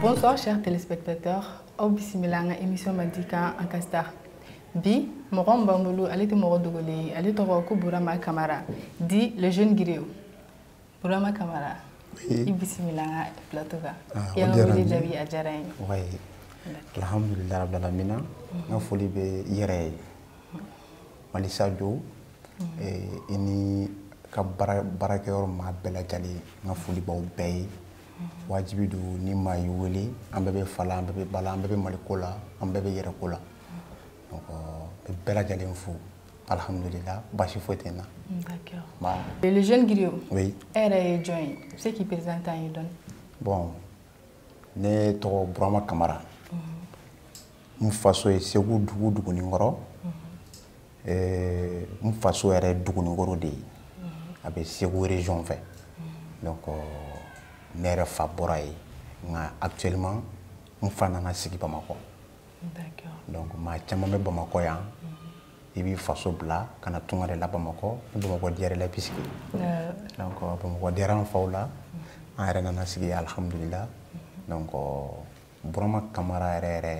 Bonsoir chers téléspectateurs aw bisimila an ka émission Madikan an ka star bi mɔgɔ min b'an bolo ale tɛ mɔgɔ dogolen ye ale tɔgɔ ko Burama Kamara dit le jeune griot Burama Kamara i bisimila an ka plateau kan i y'an ka wele jaabi a diyara an ye alhamdulilayi rabil alamina n ka foli bɛ i yɛrɛ ye malisajo eh, i n'i ka baarakɛyɔrɔ maa bɛɛ lajɛlen n ka foli b'aw bɛɛ ye wajibi don ni maa y'i wele an bɛɛ bɛ fa la an bɛɛ bɛ ba la an bɛɛ bɛ mali ko la an bɛɛ bɛ yɛrɛ ko la donc bɛ bɛɛ lajɛlen fo alhamdulillah basi foyi tɛ n na d'accord le jeune griot oui e yɛrɛ ye jɔn ye i bɛ se k'i présenter an ye dɔɔni bon ne tɔgɔ burama kamara n faso ye segu dugu duguninkɔrɔ eh, n faso yɛrɛ duguninkɔrɔ de ye a bɛ segu region fɛ donc euh, ne yɛrɛ fa bɔra yen nka actuellement n fa nana sigi bamakɔ donc maa caman bɛ bamakɔ yan i b'i faso bila ka na tunga de la bamakɔ ni bamakɔ diyara i la i bɛ sigi donc euh, bamakɔ diyara an faw la an yɛrɛ nana sigi alhamdulillah donc euh, burama kamara yɛrɛ yɛrɛ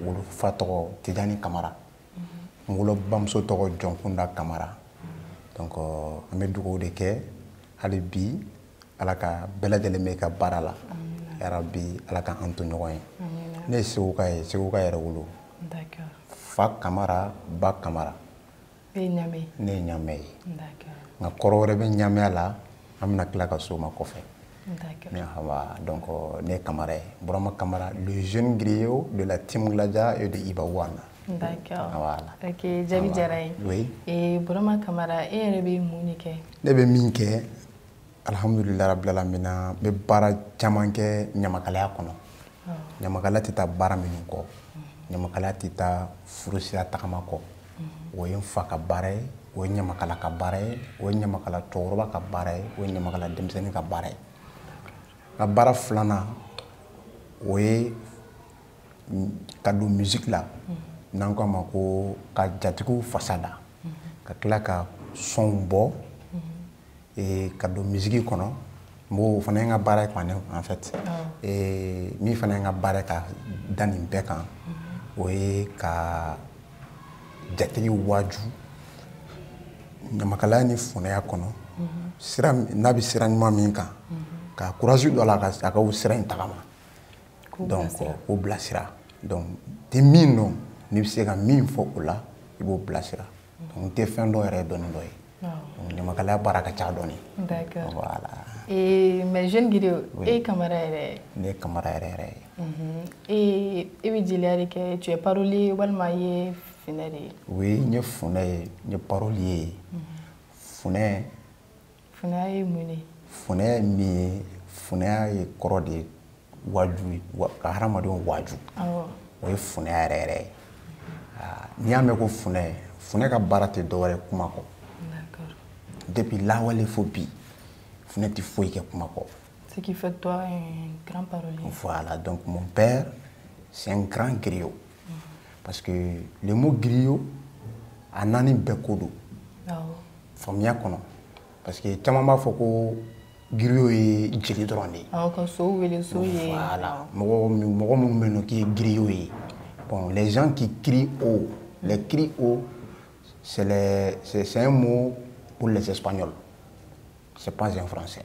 wolofa tɔgɔ tijani kamara n wolobamuso tɔgɔ jɔnkunda kamara donc euh, an bɛ dugawu de kɛ hali bi ala ka bɛɛ lajɛlen bɛ ka baara la yarabi ala ka an to ɲɔgɔn ye ne ye seguka ye seguka yɛrɛwolo fa kamara ba kamara ne ye ɲamɛ ye ne ye ɲamɛ ye nka kɔrɔ wɛrɛ bɛ ɲamɛya la an bɛna tila ka s'o ma kɔfɛ ne hawa donc ne ye kamara ye burama kamara le jeune griot de la team gladia et de iba one D'accord. Voilà. Ok, jaabi diyara an ye. Oui. Et Burama Kamara, e yɛrɛ bɛ mun de kɛ? Ne bɛ min kɛ, alhamdulilayi rabil alamina n bɛ baara caman kɛ ɲamakalaya kɔnɔ ɲamakala tɛ taa baara minnu kɔ ɲamakala tɛ taa furusira tagama kɔ o ye n fa ka baara ye o ye ɲamakala ka baara ye o ye ɲamakala cɛkɔrɔba ka baara ye o ye ɲamakala denmisɛnnin ka baara ye n ka baara filanan o ye ka don musique la n'an k'a ma ko ka jatigiw fasa da ka tila ka son bɔ ee ka don musique kɔnɔ o fana ye n ka baara ye kɔni en fait ee min fana ye n ka baara ka da nin bɛɛ kan mm-hmm. o ye ka jatigi waaju ɲamakalaya ni funɛya kɔnɔ mm-hmm. sira n'a bɛ sira ɲuman min kan mm-hmm. ka courage don a la a ka o sira in tagama donc k'o bilasira donc tɛ min dɔn n'i bɛ se ka min fɔ o la i b'o bilasira donc n tɛ fɛn dɔ yɛrɛ dɔn ni dɔ ye donc ɲamakalaya baara ka ca dɔɔni d'accord voilà et mais jeune griot e ye kamara yɛrɛ ye ne ye kamara yɛrɛ yɛrɛ ye et e bɛ jeliya de kɛ tu es parolier walima i ye funɛ de ye oui n ye funɛ ye n ye parolier ye funɛ funɛya ye mun de ye funɛya ye min ye funɛya yɛrɛ kɔrɔ de ye waaju ye ka hadamadenw waaju o ye funɛya yɛrɛ yɛrɛ ye n'i y'a mɛn ko funɛ funɛ ka baara tɛ dɔwɛrɛ kuma kɔ depuis lawale fo bi funɛ tɛ foyi kɛ kuma kɔ ce qui fait toi un grand parolier voilà donc mon père c'est un grand griot parce que le mot griot a naani bɛɛ ko don faamuya kɔnɔ parce que caman b'a fɔ ko giriyo ye jeli dɔrɔn de ye aw ka so wele so ye voilà mɔgɔ mɔgɔ minnu bɛ yen n'o k'i ye giriyo ye bon les gens qui crient haut les cris haut c'est c'est un mot pour les espagnols c'est pas un français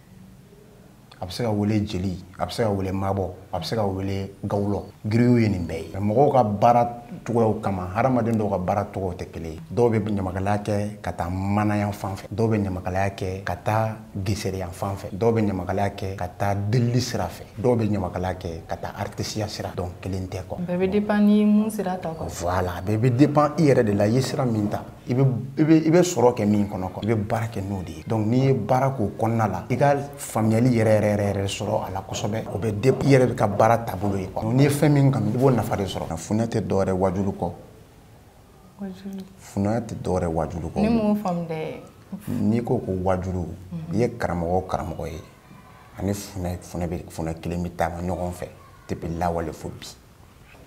a bɛ se ka wele jeli a bɛ se ka wele mabɔ a bɛ se ka wele gawulɔ giriyo ye nin bɛɛ ye mɔgɔw ka baara cogoyaw kama hadamaden dɔw ka baara cogow tɛ kelen ye dɔw bɛ ɲamakalaya kɛ ka taa maanaya fan fɛ dɔw bɛ ɲamakalaya kɛ ka taa gesereya fan fɛ dɔw bɛ ɲamakalaya kɛ ka taa delili sira fɛ dɔw bɛ ɲamakalaya kɛ ka taa artisiya sira donc kelen tɛ quoi bɛɛ bɛ depan ni mun sira ta quoi voilà bɛɛ bɛ depan i yɛrɛ de la i ye sira min ta i bɛ i bɛ i bɛ sɔrɔ kɛ min kɔnɔ i bɛ baara kɛ n'o de ye donc n'i ye baara k'o kɔnɔna la i ka faamuyali yɛrɛ yɛrɛ yɛrɛ yɛrɛ sɔrɔ a la kosɛbɛ o bɛ de i yɛrɛ bɛ ka baara taabolo ye quoi n'i ye fɛn min kanu i b'o nafa de sɔrɔ funɛ tɛ dɔwɛrɛ wajulu kɔ funɛ tɛ dɔwɛrɛ wajulu kɔ ne m'o faamu dɛ n'i ko ko wajulu i ye karamɔgɔ o karamɔgɔ ye ani funɛ funɛ bɛ funɛ kelen bɛ taama ɲɔgɔn fɛ depuis lawale fo bi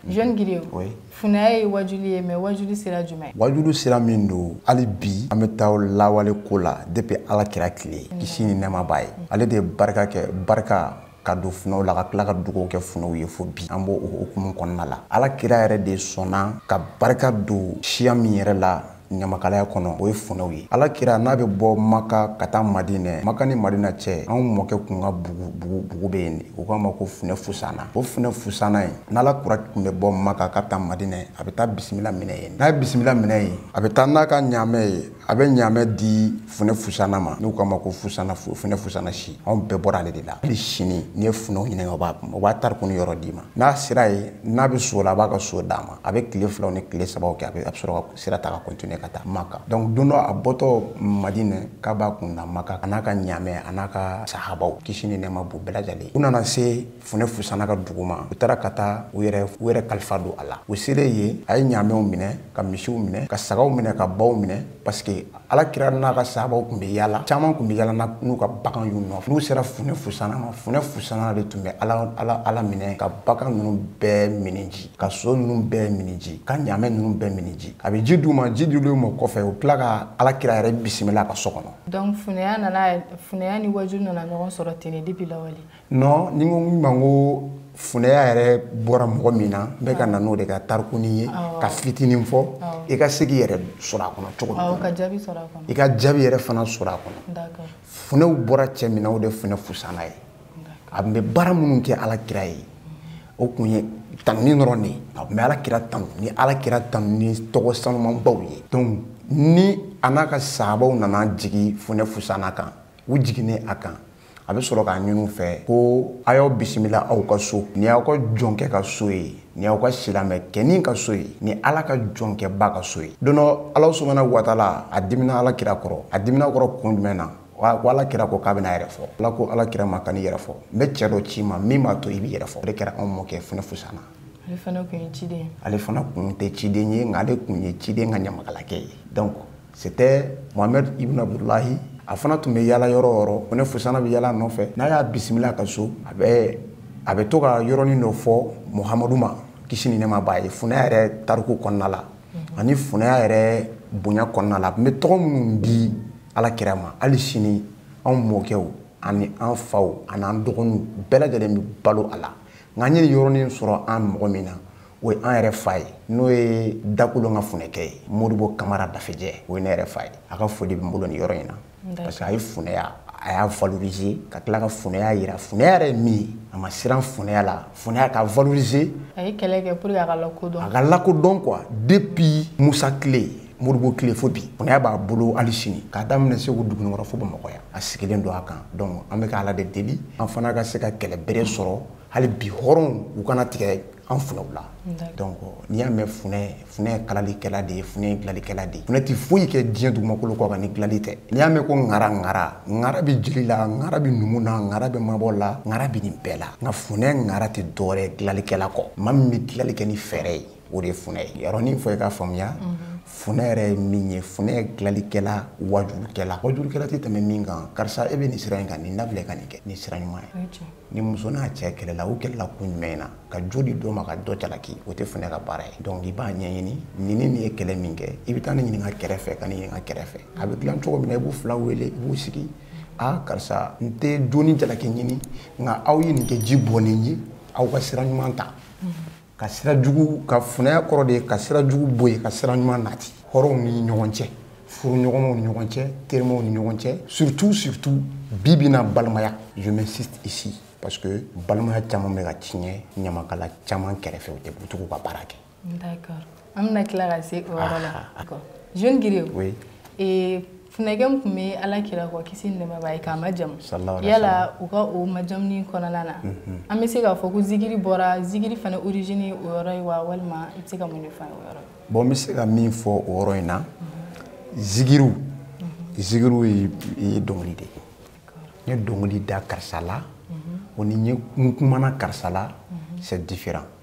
Jeune griot, oui. funɛya ye wajuli ye mais wajuli sira jumɛn wajulu sira min don hali bi an bɛ taa lawale ko la depuis ala kira tile kisi ni nɛɛma b'a ye ale de ye barika kɛ barika ka don funɛw la ka tila ka dugawu kɛ funɛw ye fo bi an b'o hukumu kɔnɔna la ala kira yɛrɛ de sɔnna ka barika don siya min yɛrɛ la ɲamakalaya kɔnɔ o ye funɛw ye ala kira n'a bɛ bɔ maka ka taa madinɛ maka ni madina cɛ anw mɔkɛ kun ka bugu bugu bugu bɛ yen de u k'a ma ko funɛ fusana o funɛ fusana ye n'ala kira tun bɛ bɔ maka ka taa madinɛ a bɛ taa bisimila minɛ yen n'a ye bisimila minɛ yen a bɛ taa n'a ka ɲaamɛ ye a bɛ ɲaamɛ di funɛ fusana ma n'u k'a ma ko fusana funɛ fusana si anw bɛɛ bɔra ale de la hali sini n'i ye funɛw ɲininka o b'a o b'a tariku ni yɔrɔ d'i ma n'a sera yen n'a bɛ so la a b'a ka so d'a ma a bɛ tile filaw ni tile sabaw kɛ a bɛ sɔrɔ ka sira ta ka continuer ka taa maka donc don dɔ a bɔtɔ madinɛ k'a b'a kun na maka a n'a ka ɲaamɛ a n'a ka sahabaw kisi ni nɛɛma b'u bɛɛ lajɛlen u nana se funɛ fusana ka dugu ma u taara ka taa u yɛrɛ u yɛrɛ kalifa don a la u selen yen a ye ɲaamɛw minɛ ka misiw minɛ ka sagaw minɛ ka baw minɛ parce que ala kira n'a ka sahabaw tun bɛ yaala caman tun bɛ yaala n'u ka bagan y'u nɔfɛ n'u sera funɛ fusana ma funɛ fusana de tun bɛ ala ala ala minɛ ka bagan ninnu bɛɛ mini ji ka so ninnu bɛɛ mini ji ka ɲaamɛ ninnu bɛɛ mini ji a bɛ ji d'u ma ji dilen u ma kɔfɛ u tila ka ala kira yɛrɛ bisimila a ka so kɔnɔ donc funɛya nana funɛya ni waju nana ɲɔgɔn sɔrɔ ten de depuis lawale non n'i ko min ma n ko funɛya yɛrɛ bɔra mɔgɔ min na n bɛ ka na n'o de ka tarikuni ye k'a fitinin fɔ i ka se k'i yɛrɛ sɔrɔ a kɔnɔ cogo min i ka jaabi yɛrɛ fana sɔrɔ a kɔnɔ funɛw bɔra cɛ min na o de funɛ fusana ye a tun bɛ baara minnu kɛ ala kira ye o tun ye tanuni dɔrɔn de ye a tun bɛ ala kira tanu ni ala kira tanu ni tɔgɔ sanumanbaw ye donc ni a n'a ka sahabaw nana jigin funɛ fusana kan u jiginnen a kan a bɛ sɔrɔ k'a ɲini u fɛ ko a y'aw bisimila aw ka so nin y'aw ka jɔnkɛ ka so ye nin y'aw ka silamɛkɛnin ka so ye ni ala ka jɔnkɛba ka so ye don dɔ ala subahanahu wa taala a dimina ala kira kɔrɔ a dimina a kɔrɔ kun jumɛn na ko ala kira ko k'a bɛna a yɛrɛ fɔ ala ko ala kira ma kan'i yɛrɛ fɔ n bɛ cɛ dɔ ci i ma min b'a to i b'i yɛrɛ fɔ o de kɛra anw mɔkɛ funɛ fusana ale fana kun ye ciden ale fana kun tɛ ciden ye nka ale kun ye ciden ka ɲamakalakɛ ye donc c'était Mohamed Ibn Abdullahi a fana tun bɛ yaala yɔrɔ o yɔrɔ funɛ fusana bɛ yaala a nɔfɛ n'a y'a bisimila a ka so a bɛ a bɛ to ka yɔrɔnin dɔ fɔ Muhamadu ma kisi ni nɛɛma b'a ye funɛya yɛrɛ tariku kɔnɔna la mhm. ani funɛya yɛrɛ bonya kɔnɔna la a tun bɛ tɔgɔ minnu di ala kira ma hali sini anw mɔkɛw ani an faw ani an dɔgɔninw bɛɛ lajɛlen bɛ balo a la nka an ye nin yɔrɔnin sɔrɔ an mɔgɔ min na o ye an yɛrɛ fa ye n'o ye dakolon ka funɛkɛ ye modibo kamara dafejɛ o ye ne yɛrɛ fa ye a ka foli bɛ n bolo nin yɔrɔ in na parce que a ye funɛya a y'a valoriser ka tila ka funɛya yira funɛya yɛrɛ ye min ye a ma siran funɛya la funɛya ka valoriser a ye kɛlɛ kɛ pour que a ka lakodɔn a ka lakodɔn quoi depuis musa kile modibo kile fo bi funɛya b'a bolo hali sini k'a daminɛ segu dugunikɔrɔ fo bamakɔ yan a sigilen don a kan donc an bɛ ka ala de deli an fana ka se ka kɛlɛ bere sɔrɔ hali bi hɔrɔnw u kana tigɛ an funɛw la donc n'i y'a mɛn funɛ funɛ ye kalalikɛla de ye funɛ ye dilalikɛla de ye funɛ tɛ foyi kɛ diɲɛ dugumakolo kɔ kan ni dilali tɛ n'i y'a mɛn ko ŋara ŋara ŋara bɛ jeli la ŋara bɛ numu na ŋara bɛ mabɔ la ŋara bɛ nin bɛɛ la nka funɛ ŋara tɛ dɔwɛrɛ ye dilalikɛla kɔ maa min bɛ dilali kɛ ni fɛɛrɛ ye o de ye funɛ ye yɔrɔnin fɔ i k'a faamuya funɛ yɛrɛ ye min ye funɛ ye dilalikɛla wajulukɛla wajulukɛla tɛ tɛmɛ min kan karisa e bɛ nin sira in kan nin dabila ka nin kɛ nin sira ɲuman ye ni muso n'a cɛ kɛlɛla u kɛlɛla kun jumɛn na ka jo di dɔ ma ka dɔ jalaki o tɛ funɛ ka baara ye donc i b'a ɲɛɲini nin ni nin ye kɛlɛ min kɛ i bɛ taa nin ɲininka kɛrɛfɛ ka nin ɲininka kɛrɛfɛ a bɛ dilan cogo min na i b'u fila wele i b'u sigi a karisa n tɛ doni jalaki ɲini nka aw ye nin kɛ ji bɔnnen ye aw ka sira ɲuman ta ka sira jugu ka funɛya kɔrɔ de ye ka sira jugu bɔ yen ka sira ɲuman nati hɔrɔnw ni ɲɔgɔn cɛ furuɲɔgɔnmaw ni ɲɔgɔn cɛ terimaw ni ɲɔgɔn cɛ surtout surtout bi bi na balimaya je m'insiste ici parce que balimaya caman bɛ ka tiɲɛ ɲamakala caman kɛrɛfɛ u tɛ butugu ka baara kɛ d'accord an bɛna tila ka se o yɔrɔ la jeune griot funɛkɛ min tun bɛ ala kira kɔ kisi ni nɛɛma b'a ye k'a majamu yala u ka o majamuni kɔnɔna na mhm. an bɛ se k'a fɔ ko zigiri bɔra zigiri fana origine ye o yɔrɔ ye wa walima i bɛ se ka mun de fɔ o yɔrɔ bon n bɛ se ka min fɔ o yɔrɔ in na mhm. zigiriw mhm. zigiriw ye dɔnkili de ye n ye dɔnkili da karisa la o ni n kumana karisa la c'est différent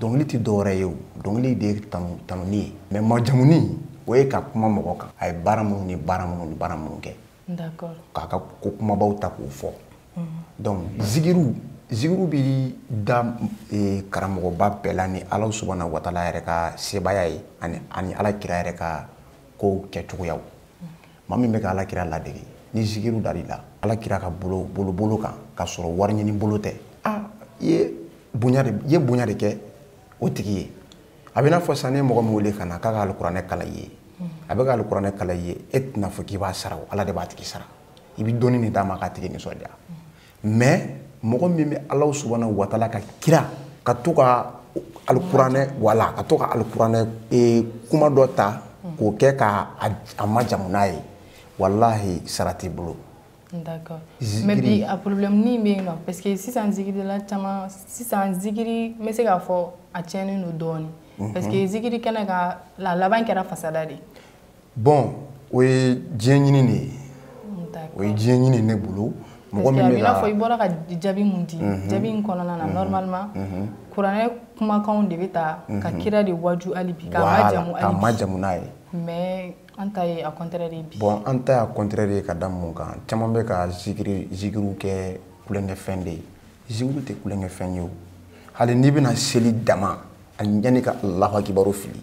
dɔnkili tɛ dɔwɛrɛ ye o dɔnkili de ye tanuni ye mais majamuni o ye ka kuma mɔgɔ kan a ye baara minnu ni baara minnu ni baara minnu kɛ k'a ka ko kunbabaw ta k'o fɔ mhm. donc zigiriw zigiriw bɛ da e, karamɔgɔba bɛɛ la ni ala subhanahu wa taala yɛrɛ ka sebaaya ye ani ala kira yɛrɛ ka kow kɛcogoyaw maa min bɛ ka ala kira ladege ni zikiri dali la ala kira ka bolo bolo bolo kan ka sɔrɔ wari ɲini bolo tɛ a i ye bonya de i ye bonya de kɛ o tigi ye a bɛ n'a fɔ sisan n'i ye mɔgɔ min wele ka na k'a ka alikuranɛ kalan i ye a bɛ ka alikuranɛ kalan i ye e tɛna fɔ k'i b'a sara o ala de b'a tigi sara i bɛ dɔɔni de d'a ma k'a tigi nisɔndiya mais mɔgɔ min bɛ alahu subhanahu wa taala ka kira ka to ka alikuranɛ wala ka to ka alikuranɛ eh, kuma dɔ ta k'o kɛ ka a majamu n'a ye walahi sara t'i bolo D'accord. Mais bi a problème ni bɛ yen non parce que sisan zikirila caman sisan zikiri n bɛ se k'a fɔ a tiɲɛnen don dɔɔnin parce que zikiri kɛnɛ kan a laban kɛra fasada de ye. bon o ye diɲɛ ɲini de ye o ye diɲɛ ɲini ne bolo mɔgɔ min bɛ ka fɔ i bɔra ka jaabi min di mhm. jaabi in kɔnɔna na mhm. normalement mhm. kuranɛ kumakanw de bɛ ta ka kira de waju hali bi k'a majamu hali bi k'a majamu n'a ye mais an ta ye a contraire de ye bi bon an ta y'a contraire ye ka da mun kan caman bɛ ka zikiri zikiriw kɛ tulonkɛfɛn de ye zikiriw tɛ tulonkɛfɛn ye o hali n'i bɛna seli daminɛ yanni ka alahu akibaru fili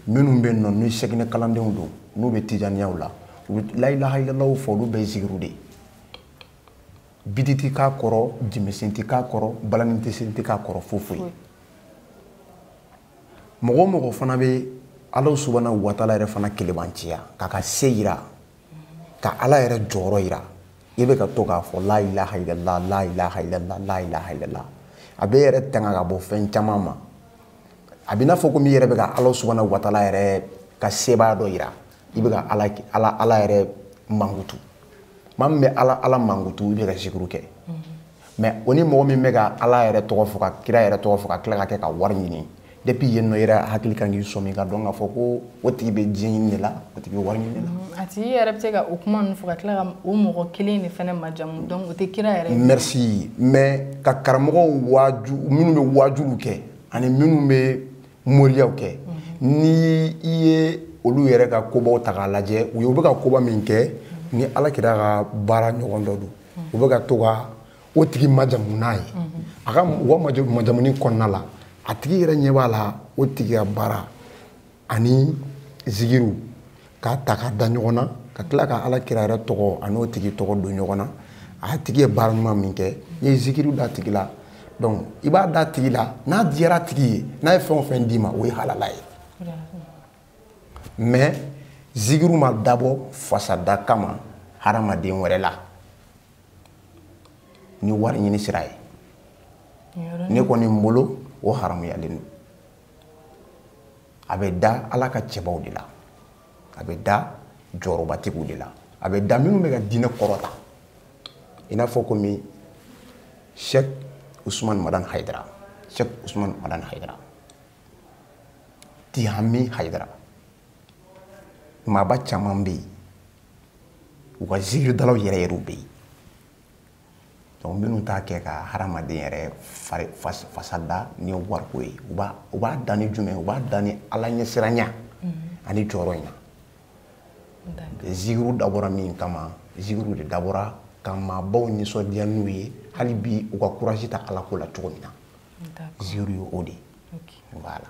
minnu bɛ nɔ ni sɛginɛ kalandenw don n'u bɛ tijaniyaw la u bɛ layilahailalaw fɔ olu bɛɛ zigiriw de ye biti tɛ k'a kɔrɔ jenbesen tɛ k'a kɔrɔ balani tɛ sen tɛ k'a kɔrɔ foyi foyi mɔgɔ o mɔgɔ fana bɛ ala subahana watala yɛrɛ fana kelebanciya k'a ka se yira ka ala yɛrɛ jɔyɔrɔ yira i bɛ ka to k'a fɔ la ilaha illallah la ilaha illallah la ilaha illallah a b'i yɛrɛ tanga ka bɔ fɛn caman ma a bɛ n'a fɔ komi i yɛrɛ bɛ ka ala subahana watala yɛrɛ ka sebaaya dɔ yira i bɛ ka ala ala ala yɛrɛ mankutu maa min bɛ ala ala mankutu i bɛ ka zikiri kɛ mais o ni mɔgɔ min bɛ ka ala yɛrɛ tɔgɔ fɔ ka kira yɛrɛ tɔgɔ fɔ ka tila k'a kɛ ka wari ɲini depuis yen nɔ i yɛrɛ hakili kan k'i sɔmi k'a dɔn k'a fɔ ko o tigi bɛ diɲɛ ɲini de la o tigi bɛ wari ɲini de la mm, a tigi yɛrɛ bɛ se ka o kuma ninnu fɔ ka tila ka o mɔgɔ kelen de fana majamu donc o tɛ kira yɛrɛ merci mais ka karamɔgɔw waaju minnu bɛ waajuliw kɛ ani minnu bɛ moriyaw kɛ mm-hmm. ni i ye olu yɛrɛ ka kobaw ta k'a lajɛ u ye u bɛ ka koba min kɛ mm-hmm. ni ala kira ka baara ɲɔgɔn dɔ don mm-hmm. u bɛ ka to ka o tigi majamu n'a ye a ka u ka majamuni kɔnɔna la a tigi yɛrɛ ɲɛ b'a la o tigi ka baara ani zigiri k'a ta k'a da ɲɔgɔn na ka tila ka ala kira yɛrɛ tɔgɔ an'o tigi tɔgɔ don ɲɔgɔn na a tigi ye baara ɲuman min kɛ n'i ye zikiriw da a tigi la donc i b'a da a tigi la n'a diyara a tigi ye n'a ye fɛn o fɛn d'i ma o ye halala ye mais zikiriw ma dabɔ fasada kama hadamaden wɛrɛ la ni wari ɲini sira ye ne kɔni n bolo o haramuyalen don a bɛ da ala ka cɛbaw de la a bɛ da jɔyɔrɔbatigiw de la a bɛ da minnu bɛ ka diinɛ kɔrɔta i n'a fɔ komi sɛk usumani madan hayidara sɛk usumani madan hayidara tihami hayidara maaba caman bɛ yen u ka zikiridalaw yɛrɛ yɛrɛw bɛ yen donc minnu t'a kɛ ka hadamaden yɛrɛ fari fasa da ni wariko ye u b'a u b'a da ni jumɛn u b'a da ni ala ɲɛsiranya ani jɔyɔrɔ in na zigiriw dabɔra min kama zigiriw de dabɔra ka maabaw nisɔndiya n'u ye hali bi u ka courage ta ala ko la cogo min na zigiriw ye o de ye voilà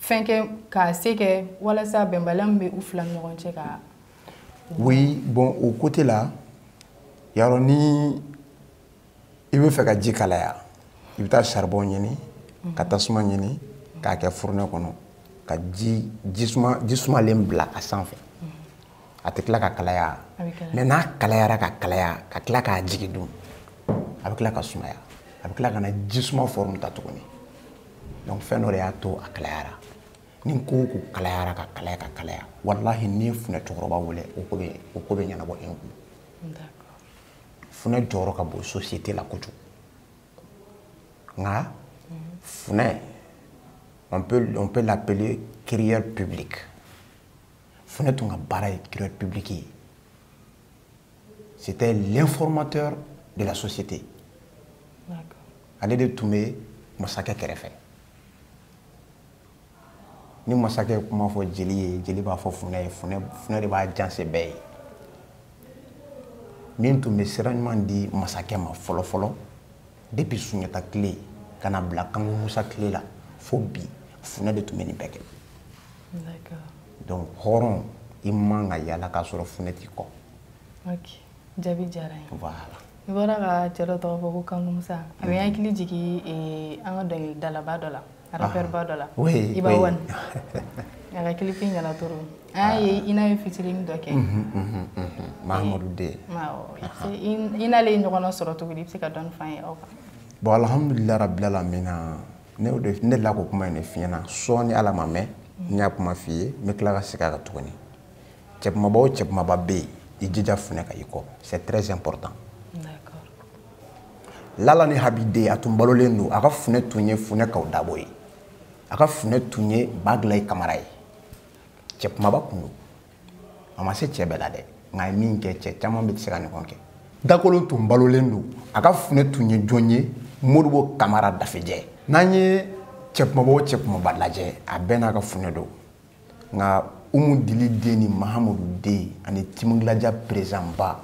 fɛn kɛ k'a se kɛ walasa bɛnbaliya min bɛ u fila ni ɲɔgɔn cɛ ka. oui bon o côté la yarɔ ni i bɛ fɛ ka ji kalaya i bɛ taa charbon ɲini mhm. ka tasuma ɲini k'a kɛ fourneau kɔnɔ ka ji suma ji sumalen bila a sanfɛ. a tɛ tila ka kalaya mɛ n'a kalayara ka kalaya ka tila k'a jigi dun a bɛ tila ka sumaya a bɛ tila ka na ji suma fɔrɔmu ta tuguni donc fɛn dɔ de y'a to a kalayara ni ko o ko kalayara ka kalaya ka kalaya walahi n'i ye funɛ cɛkɔrɔba wele o ko bɛ o ko bɛ ɲɛnabɔ e kun funɛ jɔyɔrɔ ka bon société la kojugu nka funɛ on peut on peut l'appeler crieur public funɛ tun ka baara ye crieur public ye c'était l'informateur de la société ale de tun bɛ masakɛ kɛrɛfɛ ni masakɛ ye kuma fɔ jeli ye jeli b'a fɔ funɛ ye funɛ de b'a janse bɛɛ ye min tun bɛ sira ɲuman di masakɛ ma fɔlɔ fɔlɔ depuis sunjata tile ka na bila kanku musa tile la fo bi funɛ de tun bɛ nin bɛɛ kɛ donc hɔrɔn i man ka yala k'a sɔrɔ funɛ t'i kɔ jaabi diyara n ye voilà i bɔra ka cɛ dɔ tɔgɔ fɔ ko kanku musa a bɛ n hakili jigin eh, an ka dɔnkilidalaba dɔ la rappeur ba dɔ la iba one a ka kilipi ɲɛna trop an y'a ye i n'a ye featuring dɔ kɛ mahamadu den i n'ale ye ɲɔgɔn sɔrɔ cogo di i bɛ se ka dɔɔni f'an ye o kan bon alhamdulillah rabbil alamin ne delila k'o kuma in de f'i ɲɛ na sɔɔni ala ma mɛn n y'a kuma f'i ye n bɛ tila ka segin a kan tuguni cɛkumaba o cɛkumaba bɛ yen i jija funɛ ka i kɔ c'est très important lala ni habi den a tun balolen don a ka funɛ tun ye funɛ kaw dabo ye a ka funɛ tun ye bagilai kamara ye cɛ kumaba tun don a ma se cɛ bɛɛ la dɛ nka a ye min kɛ cɛ caman tɛ se k'a ɲɔgɔn kɛ dakolon tun balolen don a ka funɛ tun ye jɔn ye modibo kamara dafejɛ n'an ye cɛ kumaba o cɛ kumaba lajɛ a bɛɛ n'a ka funɛ don nka umu dili den ni mahamadu den ani team gladia perezidanba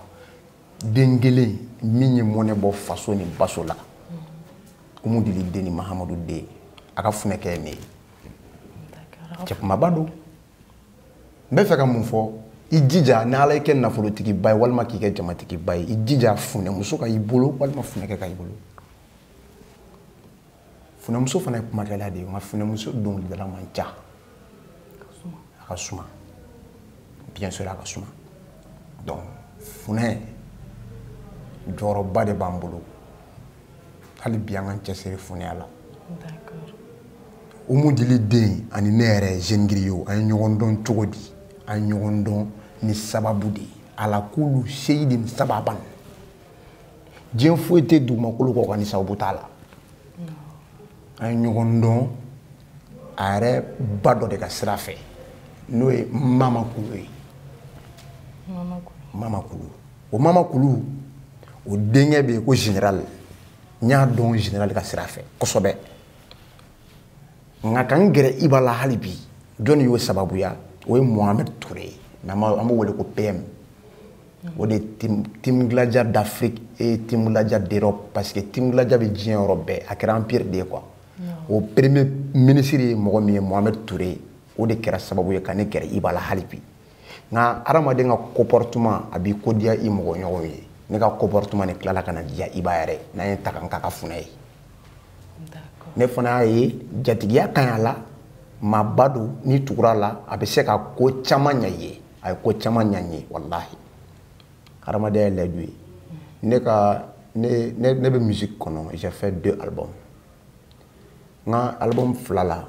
den kelen min ye mɔnɛ bɔ faso ni baso la umu dili den ni mahamadu den a ka funɛkɛ ye ne ye cɛ kumaba don n bɛ fɛ ka mun fɔ i jija ni ala y'i kɛ nafolotigiba ye walima k'i kɛ jamatigiba ye i jija funɛmuso ka i bolo walima funɛkɛ ka i bolo funɛmuso fana ye kumakɛla de ye nka funɛmuso dɔnkilidala man ca a ka suma bien sûr a ka suma donc funɛ jɔyɔrɔba de b'an bolo hali bi an k'an cɛsiri funɛya la umu dili den ani ne yɛrɛ jeune griot an ye ɲɔgɔn dɔn cogo di an ye ɲɔgɔn dɔn ni sababu de ye ala kulu seyidin sababan diɲɛ foyi tɛ dugumakolo kɔ kan ni sababu t'a la an ye ɲɔgɔn dɔn a yɛrɛ ba dɔ de ka sira fɛ n'o ye mama kulu ye mama kulu o mama kulu o denkɛ bɛ yen ko general n y'a dɔn general ka sira fɛ kosɛbɛ nka ka n gɛrɛ iba la hali bi jɔnni y'o sababuya o ye mohamed ture ye mais an b'o wele ko pm o de ye team gladia d'afrique et team gladia d'europe parce que team gladia bɛ diɲɛ yɔrɔ bɛɛ a kɛra empire de ye quoi o premier ministre ye mɔgɔ min ye mohamed toure o de kɛra sababu ye ka ne gɛrɛ iba la hali bi nka hadamaden ka comportement a b'i ko diya i mɔgɔ ɲɔgɔnw ye ne ka comportement de tilala ka na diya iba yɛrɛ n'a ye n ta ka n k'a ka funɛ ye ne fana y'a ye jatigiya ka ɲi a la maaba don n'i tugura a la a bɛ se ka ko caman ɲɛ i ye a ye ko caman ɲa n ye walahi hadamadenya ye layidu ye ne ka ne ne ne bɛ musique kɔnɔ j'ai fait deux albums n ka album fila la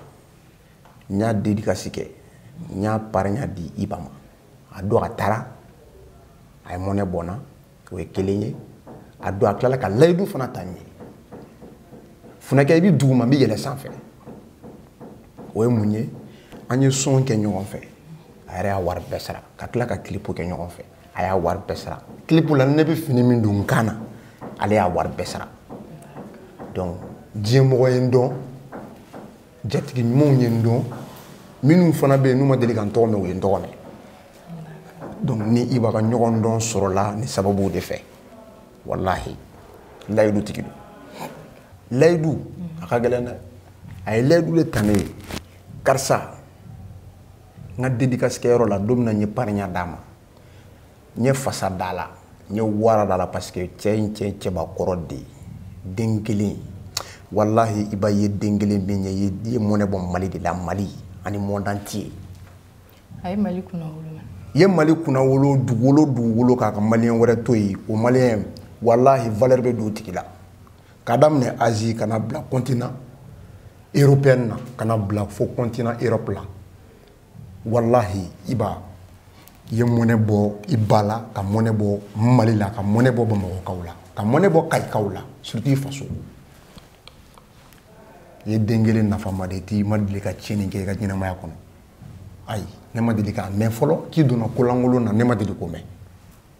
n y'a dédicace kɛ n y'a parrainya di iba ma a don a taara a ye mɔnɛ bɔ n na o ye kelen ye a don a tilala ka layidu fana ta n ye funɛkɛ i bɛ duguma n b'i yɛlɛ sanfɛ o ye mun ye an ye son kɛ ɲɔgɔn fɛ a yɛrɛ y'a wari bɛɛ sara ka tila ka kilipu kɛ ɲɔgɔn fɛ a y'a wari bɛɛ sara kilipu la ne bɛ fini min don n kan na ale y'a wari bɛɛ sara donc diɲɛmɔgɔ ye n dɔn jatigi ɲumanw ye n dɔn minnu fana bɛ yen n'u ma deli ka n tɔgɔ mɛn u ye n tɔgɔ mɛn donc ni iba ka ɲɔgɔn dɔn sɔrɔla nin sababu de fɛ walahi layidu tigi don layidu a ka gɛlɛn dɛ a ye layidu de ta ne ye karisa n ka dedikasi kɛyɔrɔ la don min na n ye parinya d'a ma n ye fasa d'a la n ye wara d'a la parce que cɛ in cɛ cɛbakɔrɔ de ye den kelen walahi iba ye den kelen min ye i ye mɔnɛ bɔ mali de la mali ani monde entier a ye mali kunnawolo i ye mali kunnawolo dugukolo dugukolo kan ka maliyɛn wɛrɛ to yen o maliyɛn walahi valeur bɛ don o tigi la k'a daminɛ asie ka na bila continent européenne na ka na bila fo continent europe la walahi iba i ye mɔnɛ bɔ i ba la ka mɔnɛ bɔ mali la ka mɔnɛ bɔ bamakɔkaw la ka mɔnɛ bɔ kayikaw la surtout i faso i ye den kelen nafama de ti i ma deli ka tiɲɛni kɛ i ka ɲɛnamaya kɔnɔ ayi ne ma deli k'a mɛn fɔlɔ k'i donna kolankolon na ne ma deli k'o mɛn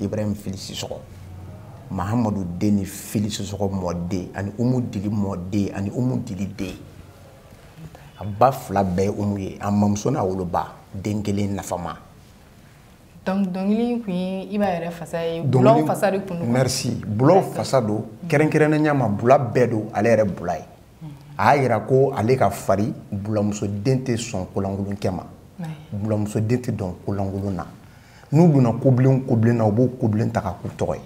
ibrahim fili sisɔgɔ mahamadu den ni fili sisɔgɔ mɔden ani umu dili mɔden ani umu dili den a ba fila bɛɛ ye umu ye a mamuso n'a woloba den kelen nafama donc dɔnkili in tun ye iba yɛrɛ fasa ye bulaw fasa de tun don merci bulaw fasa don kɛrɛnkɛrɛnnenya ma bula bɛɛ don ale yɛrɛ bula ye a y'a yira ko ale ka fari bulamusoden tɛ sɔn ko lankolon kɛ ma bulamusoden tɛ don ko lankolon na n'u donna kobilen kobilen na u b'o kobilen ta ka k'u tɔgɔ ye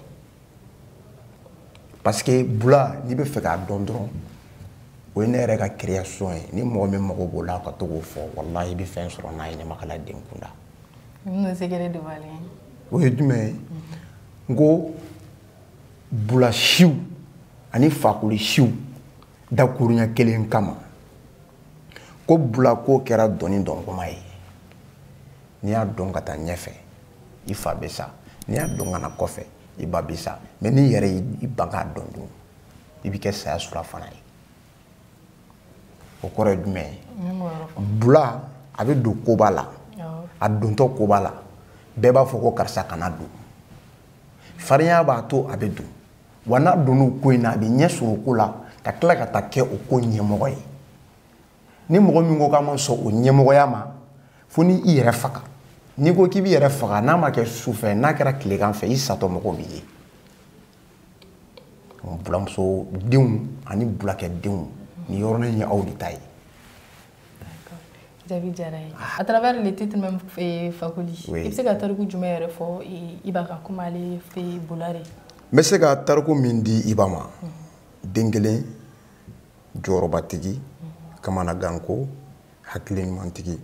parce que bula n'i bɛ fɛ k'a dɔn dɔrɔn o ye ne yɛrɛ ka création ye ni mɔgɔ min mago b'o la ka to k'o fɔ walahi i bɛ fɛn sɔrɔ n'a ye ɲamakala den kunda o ye jumɛn ye n ko bula siw ani fakoli siw dakurunya kelen kama ko bula ko kɛra dɔnnin dɔngoman ye n'i y'a dɔn ka taa ɲɛfɛ i fa bɛ sa n'i y'a dɔn ka na kɔfɛ i ba bɛ sa mais n'i yɛrɛ y'i ban k'a dɔn dun i bɛ kɛ saya surafana ye o kɔrɔ ye jumɛn ye bula a bɛ don koba la a dontɔ koba la bɛɛ b'a fɔ ko karisa kana don farinya b'a to a bɛ don wa n'a donn'o ko in na a bɛ ɲɛ sɔrɔ o ko la ka tila ka taa kɛ o ko ɲɛmɔgɔ ye ni mɔgɔ min ko k'a ma sɔn o ɲɛmɔgɔya ma fo ni i yɛrɛ faga n'i ko k'i b'i yɛrɛ faga n'a ma kɛ su fɛ n'a kɛra tilegan fɛ i satɔ mɔgɔw b'i ye bulamuso denw ani bulakɛ denw nin yɔrɔnin ye aw de ta ye jaabi diyara n ye à travers le titre même eh, fakoli i bɛ se ka tariku jumɛn yɛrɛ fɔ iba kan komi ale fɛ bula de n bɛ se ka tariku min di iba ma den kelen jɔyɔrɔbatigi kamanaganko hakili ɲumantigi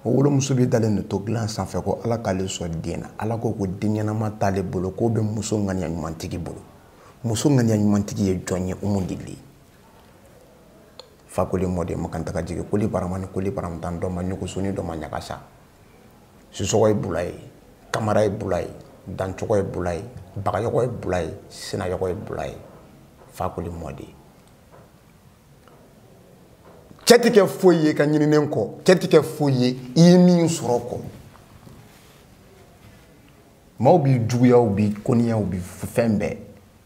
o wolomuso bɛ dalen de to dilan sanfɛ ko ala k'ale sɔn den na ala ko ko den ɲɛnama t'ale bolo k'o bɛ muso ŋaniya ɲumantigi bolo muso ŋaniya ɲumantigi ye jɔn ye umu dili ye fakoli mɔden makantaga jigi koli barama ni koli baramatan dɔ ma ɲugusu ni dɔ ma ɲagasa sisɔgɔ ye bula ye kamara ye bula ye dancogo ye bula ye bagayɔgɔ ye bula ye sinayɔgɔ ye bula ye fakoli mɔden cɛ tɛ kɛ foyi ye ka ɲininen kɔ cɛ tɛ kɛ foyi ye i ye min sɔrɔ kɔ maaw b'i juguya u b'i koniya u b'i fɛn bɛɛ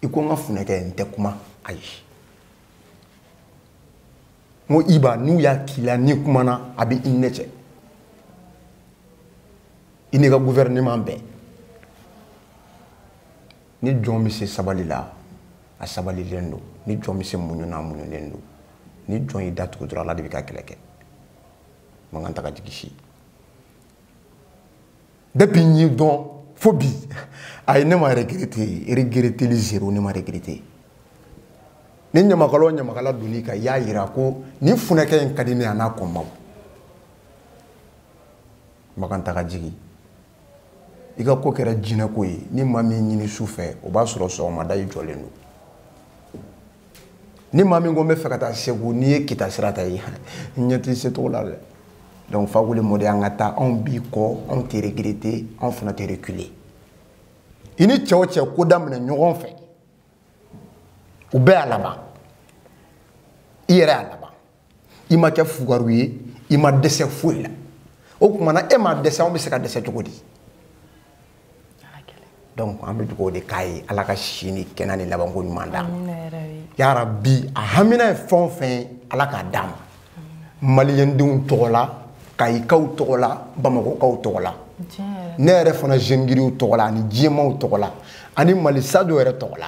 i ko n ka funɛkɛ n tɛ kuma ayi n ko iba n'u y'a k'i la n'i kumana a bɛ i ɲɛ cɛ i n'i ka gouvernement bɛɛ ni jɔn bɛ se sabali la a sabalilen don ni jɔn bɛ se muɲu na a muɲulen don ni jɔn y'i da tugu dɔrɔn ala de b'i ka kɛlɛ kɛ makan taga jigi si depuis n y'i dɔn fo bi ayi ne ma regrete regreteli zero ne ma regrete ni ɲamakala o ɲamakala donn'i kan i y'a yira ko nin funɛkɛ in ka di ne a n'a kɔmaaw makan taga jigi i ka ko kɛra jinɛko ye ni maa min ɲini su fɛ o b'a sɔrɔ sɔgɔmada i jɔlen don ni maa min ko n bɛ fɛ ka taa segu n'i ye kita sira ta ye n ɲɛ t'i se cogo la dɛ donc fakoli mɔden an ka taa anw b'i kɔ anw tɛ regretter anw fana tɛ reculer i ni cɛ o cɛ ko daminɛ ɲɔgɔn fɛ u bɛɛ y'a laban i yɛrɛ y'a laban i ma kɛ fugaru ye i ma dɛsɛ foyi la o kuma na e ma dɛsɛ anw bɛ se ka dɛsɛ cogo di donc an bɛ dugawu de k'a ye ala ka si ni kɛnɛ ni labanko ɲuman d'a ma yarabi a hamina ye fɛn o fɛn ye ala k'a d'a ma maliyɛndenw tɔgɔ la kayikaw tɔgɔ la bamakɔkaw tɔgɔ la ne yɛrɛ fana jeune griot tɔgɔ la ani diɲɛmaw tɔgɔ la ani mali sajo yɛrɛ tɔgɔ la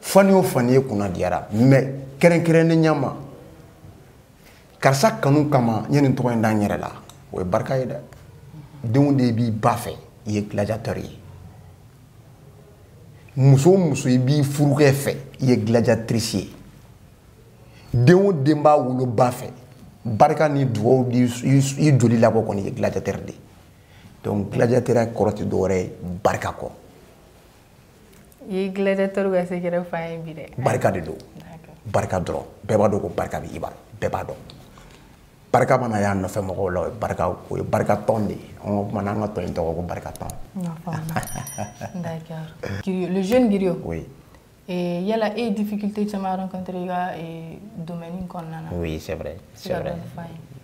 fani o fani ye kunna diyara mais kɛrɛnkɛrɛnnenya ma karisa kanu kama n ye nin tɔgɔ in da n yɛrɛ la o ye barika ye dɛ den o den b'i ba fɛ i ye gladiateur ye muso o muso i b'i furukɛ fɛ i ye gladiatrice ye den o den b'a woloba fɛ barika ni dugawu i joli labɔ kɔni ye gladiateur de ye donc gladiateur kɔrɔ tɛ dɔwɛrɛ ye barika kɔ i gladiateur ka secret f'a ye bi dɛ barika de don barika dɔrɔn bɛɛ b'a dɔn ko barika bɛ iba la bɛɛ b'a dɔn barika mana y'a nɔfɛ mɔgɔw la o ye barika o ye barika tɔn de ye an ka kuma n'an ka tɔn in tɔgɔ ko barika tɔn le jeune griot oui yala e ye difficulté caman rencontré i ka domaine kɔnɔna na Oui, c'est vrai. C'est vrai.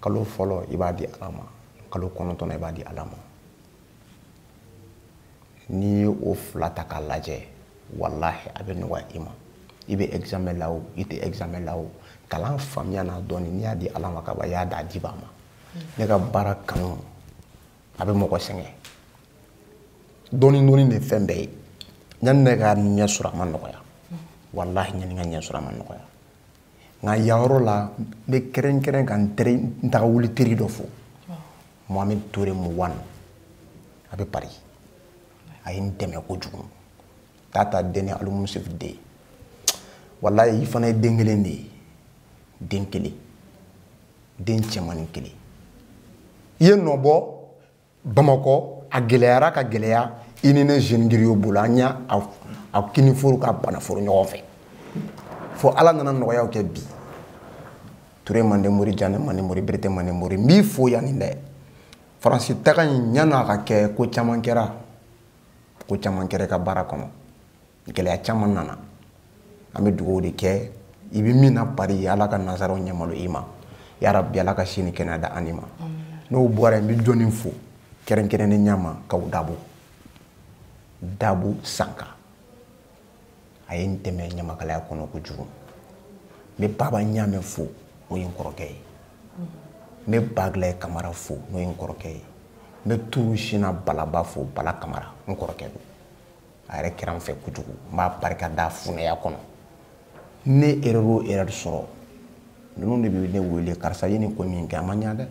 kalo fɔlɔ i b'a di ala ma kalo kɔnɔntɔn i b'a di ala ma n'i ye o fila ta k'a lajɛ walahi a bɛ nɔgɔya i ma i bɛ examen la o i tɛ examen la o kalan faamuya n'a dɔɔni n'i y'a di ala ma kaban i y'a d'a dibaa ma ne ka baara kanu a bɛ mɔgɔ sɛgɛn dɔɔni dɔɔni de fɛn bɛɛ ye yanni ne ka ɲɛ sɔrɔ a ma nɔgɔya walahi yanni n ka ɲɛ sɔrɔ a ma nɔgɔya nka yan yɔrɔ la n bɛ kɛrɛnkɛrɛn ka n teri n taga wuli teri dɔ fo mohamed ture muwan a bɛ paris a ye n dɛmɛ kojugu tata deni alimusuf den walayi i fana ye den kelen de ye den kelen den cɛmanin kelen i ye nɔ bɔ bamakɔ a gɛlɛyara ka gɛlɛya i ni ne jeune griot bolo an y'a kiniforo ka banaforo ɲɔgɔn fɛ fo ala nana nɔgɔyaw kɛ bi ture mande mori jane mande mori berete mande mori n b'i fo yanni dɛ faransi taga in ɲan'a ka kɛ ko caman kɛra ko caman kɛra i ka baara kɔnɔ gɛlɛya caman nana an bɛ dugawu de kɛ i bɛ min na pari ala ka nansaraw ɲɛmalo i ma yarabi ala ka si ni kɛnɛya da ani ma n'o bɔra yen n bɛ jɔni fo kɛrɛnkɛrɛnnenya ma kaw dabo dabo sanka a ye n dɛmɛ ɲamakalaya kɔnɔ kojugu n bɛ baba ɲaamɛ fo n'o ye n kɔrɔkɛ ye n bɛ bagila kamara fo n'o ye n kɔrɔkɛ ye n bɛ turu sina balaba fo bala kamara n kɔrɔkɛ don a yɛrɛ kɛra n fɛ kojugu n b'a barika da funɛya kɔnɔ ne erreur o erreur sɔrɔ ninnu de bɛ ne wele karisa ye nin ko min kɛ a ma ɲa dɛ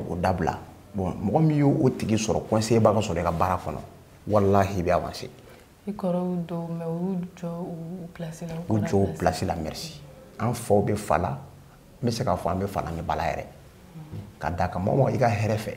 o dabila bon mɔgɔ min ye o tigi sɔrɔ conseiller ba ka sɔrɔ i ka baara kɔnɔ walahi i bɛ avancer i kɔrɔw don mais u y'u jɔ u place la u jɔ u place la merci an faw bɛ fa la n bɛ se k'a fɔ an bɛ fa la ni ba la yɛrɛ ka d'a kan mɔgɔ o mɔgɔ i ka hɛrɛ fɛ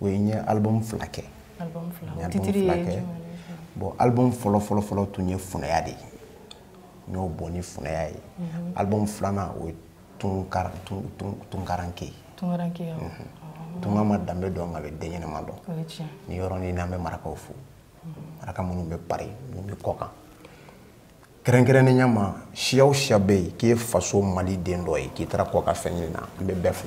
oui n ye album fila kɛ album fila o titre ye jumɛn ye bon album fɔlɔ fɔlɔ fɔlɔ tun ye funɛya de ye n y'o bɔ ni funɛya ye mhm. album filanan o ye tunkaran tun tun tunkaranke ye tunkaranke ye mhm. tunga ma danbe dɔn nka a bɛ den ɲɛnama dɔn o ye tiɲɛ nin yɔrɔ in na n bɛ marakaw fo mhm. maraka minnu bɛ pari minnu bɛ kɔkan kɛrɛnkɛrɛnnenya ma siya o siya bɛ yen k'i ye faso mali den dɔ ye k'i taara kɔkan fɛn ɲini na n bɛ bɛɛ fo